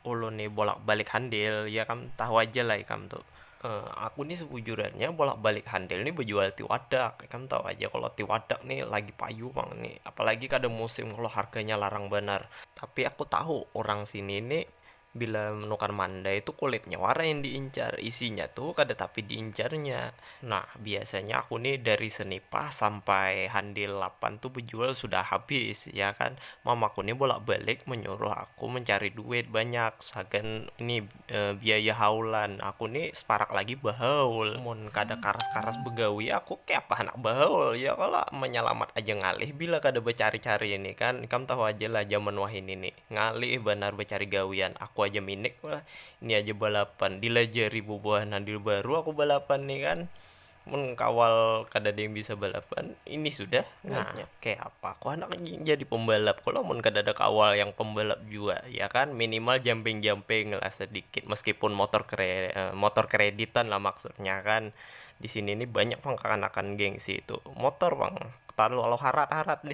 Ulun ni bolak-balik handil, ya kam tahu aja lah ikam tu. Aku ni sebujurannya bolak-balik handil ni bejual tiwadak, ikam tahu aja kalo tiwadak ni lagi payu pang ni, apalagi kada musim kalo harganya larang banar. Tapi aku tahu urang sini ni bila menukar mandai tu kulitnya wara yang diincar, isinya tu kada tapi diincarnya. Nah, biasanya aku nih dari Senipah sampai Handil lapan tuh bejual sudah habis, ya kan. Mamaku nih bolak-balik menyuruh aku mencari duit banyak sagan ini biaya haulan. Aku nih separak lagi behaul. Mun kada karas-karas begawi aku kayapa handak behaul, ya kalo? Menyalamat aja ngalih bila kada becari-cari ini kan. Ikam tahu aja lah jaman wahini nih. Ngalih banar bacari gawian, aku aja minik pulang, ini aja balapan, dilajari bubuhan nang di baru aku balapan ni kan, mun kawal kadada yang bisa balapan ini sudah ngalihnya, kaya apa aku handak jadi pembalap kalo mun kadada kawal yang pembalap jua ya kan, minimal jamping-jamping lah sedikit meskipun motor motor kreditan lah maksudnya kan, disini ni banyak pang kakanakan gengsi tu motor pang, tarlo harat-harat.